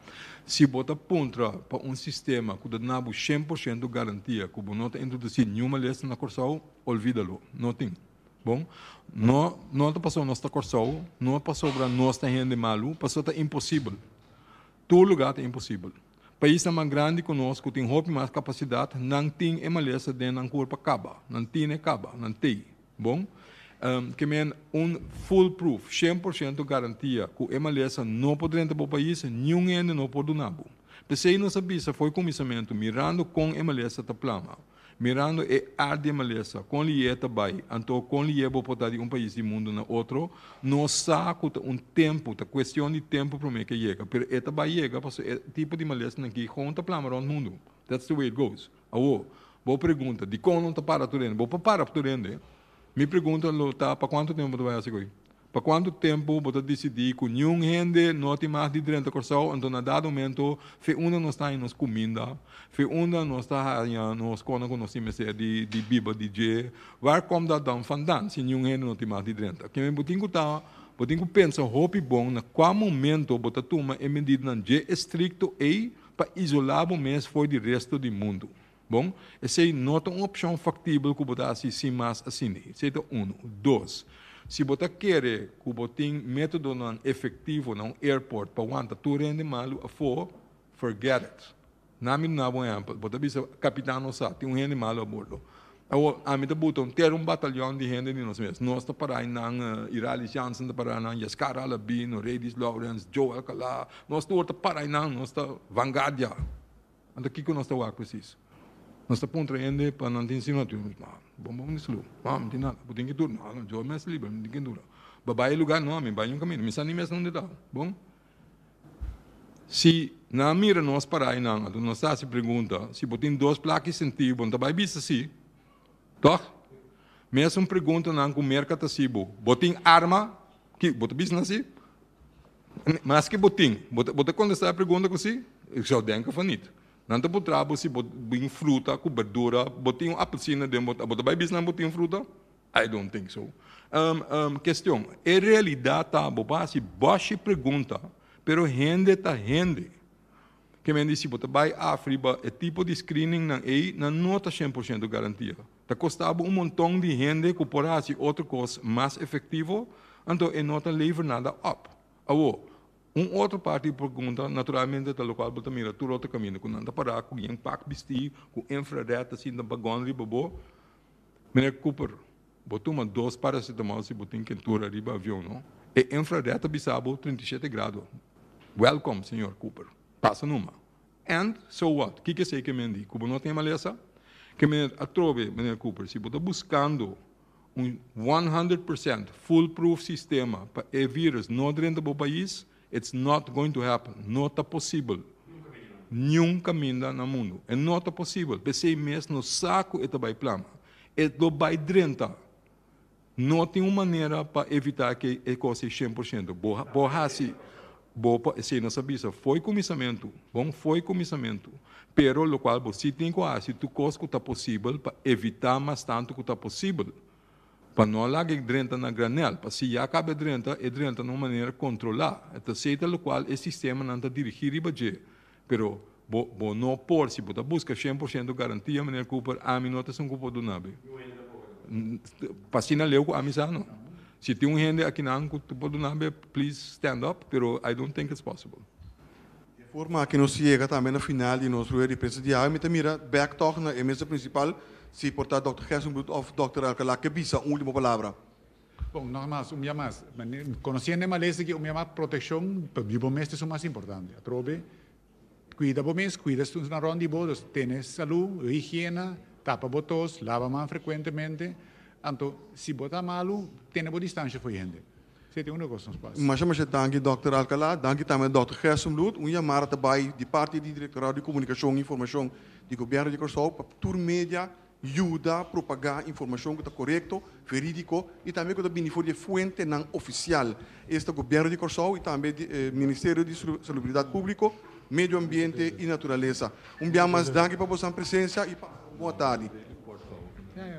Si bo ta puntra pa un sistema ku ta duna bo shen por shento garantia ku bo no ta introdusí niun malesta na Kòrsou, olvida lo. No tin. Bon, no no ta pasobra nos ta Kòrsou, no pasobra nos ta hende malu, pasobra ta imposibel. Tur lugá ta imposibel. Paisnan mas grandi ku nos, ku tin hopi mas kapasidat, nan tin e malesa den nan kurpa kaba. Nan tine kaba, nan tei. Bon, ke men un foolproof, shen por shento garantia, ku e malesa no por drenta bo pais, niun hende no por duna bo. P'esei nos a bisa for e kuminsamentu, mirando kon e malesa ta plama, Mirando e ardie malesa, con liye ta bay, anto con liye bo por ta di un pais di mundo na otro? No sa cu ta un tempo, ta cuestion di tempo prome ke yega, pero e ta bay yega pasobra e tipo di malesnan aki gewoon ta plama rond mundo. That's the way it goes. Awo, bo pregunta, dicon lo ta para tur hende? Bo por para tur hende? Mi pregunta lo ta, pa cuanto tempo bo ta bay haci goi? Pa cuanto tempo bo ta dicidi cu niun hende no tin mas di drenta Corsou anto na dado momento fe unda nos ta haña nos cuminda, fe unda nos ta haña nos conan cu nos tin mester di di biba di dje? Waar com dat dan vandan si niun hende no tin mas di drenta? Kimen bo tin cu ta bo tin cu pensa hopi bon na cua momento bo ta tuma e medidanan dje estricto ey pa isola bo mes fo'i di resto di mundo? Bon, esei no ta un opshon faktibel ku bo ta hasi sin mas asina. Esei ta unu. Dos, si bo ta kere ku bo tin métodonan efektivo na un airport pa wanta tur hende malu afó, forget it. Na mi duna bo un ehèmpel. Bo ta bisa, Kapitan nos sa, tin un hende malu abordo. Awor, ami ta buta un ter un batalion di hende di nos mes. Nos ta para ei nan, Iralis Jansen ta para nan, Yaskar Alabi, Noredis Lawrens, Joe Alkalá, nos tur ta para ei nan, nos ta vangardia. Anto kiko nos ta wak presis? Nos ta puntra hende pa nan tin sino tin lus? Nah, bon bo mester lu. Nah, mi tin nada. Bo tin ki dura? Nah, yo mester libra, mi tin ki dura. Bo bai e lugar? No, mi bai un camino. Mi sa ni mes nunde ta. Bon, si nan mira nos parai nan, anto nos ta haci pregunta, si bo tin dos plak i senti, bo no ta bai bisa si. Toch? Mesun pregunta nan cu merca ta haci bo, Bo tin arma? Ki bo ta bisa nan si? Maske bo tin, bo ta kontestá e pregunta ku sí? Ik zou denke van niet. Nan ta puntrá bo si bo bin fruta ku berdura, bo tin un apelsina den bo ta, bo ta bai bisa nan bo tin fruta? I don't think so. Kestion, E realidat ta, bo por hasi bòshie pregunta, pero hende ta hende. Ke men di si bo ta bai afriba e tipo di screeningnan ei, nan no ta shen por shento garantia. Ta kosta bo un monton di hende ku por hasi otro kos mas efektivo, anto e no ta lever nada òp. Awor, un otro par di pergunta naturalmente ta lokual bo ta mira tur otro kaminda ku nan ta pará ku yen pak bistí ku infrared ta sinta bagòn riba bo. Meneer Cooper, bo tuma dos paracetamol si bo tin kentura riba avion, no? E infrared ta bisa bo trinta i shete grado. Wèlkom, señor Cooper. Pasa numa. And so what? Kiko esei ke men di ku bo no tin e malesa? Ke men a trobe, Meneer Cooper, si bo ta buskando un one hundred percent fool proof sistema pa e virus no drenta bo pais, it's not going to happen, no ta posibel niun kaminda na mundu. E no ta posibel, p'esei mes nos sa ku e ta bai plama. E lo bai drenta No tin un manera pa evitá ke e kos ei shen por shento. Bo, bo hasi, bo por esei nos a bisa, fo'i kuminsamentu, bon, fo'i kuminsamentu. Pero lokual bo si tin ku hasi tur kos ku ta posibel pa evitá mas tantu ku ta posibel pa no a laga e drenta na granel. Pa si ya a kaba e drenta, e drenta na un manera kontrolá. Ta asei ta lokual e sistemanan ta dirigí riba dje. Pero bo bo no por si bo ta busca cien por ciento garantia meneer Cooper ami no ta esun cu por duna be pa asina leu cu ami sa no si tin un hende akinan cu por duna be please stand up pero I don't think it's possible. E forma aki nos yega tambe na final di nos rueda di prensa di awe mi ta mira bek tog na e mesa principal si por ta Dokter Gerson Bloedhof Dokter Alcala ke bisa un ultimo palabra. Bon, nos a mas, un bia mas, conociendo e malesa aki, un bia mas proteccion pa bibo mes ta esun mas importante. Atrobe cuida bo mes, cuida esun nan rond di bo, dus tene salu, higiena, tapa bo tos, laba man frecuentemente, anto si bo ta malu tene bo distancia for e hende. Si ete unda cos nos por haci. Masha masha danki Dòkter Alcalá, danki tambe Dòkter Gerson Looth. Un yamada ta bai di parti di Directorado di Comunicacion y Informacion di Gobierno di Curaçao pa tur media Yuda propagá informashon ku ta korekto, verídiko i tambe ku ta bini for di e fuentenan ofisial. Esta Gobièrnu di Kòrsou i tambe Ministerio di Salubridat Públiko, Medio Ambiente i Naturalesa. Un bia mas danki pa bosan presensia i pasa un bon tardi.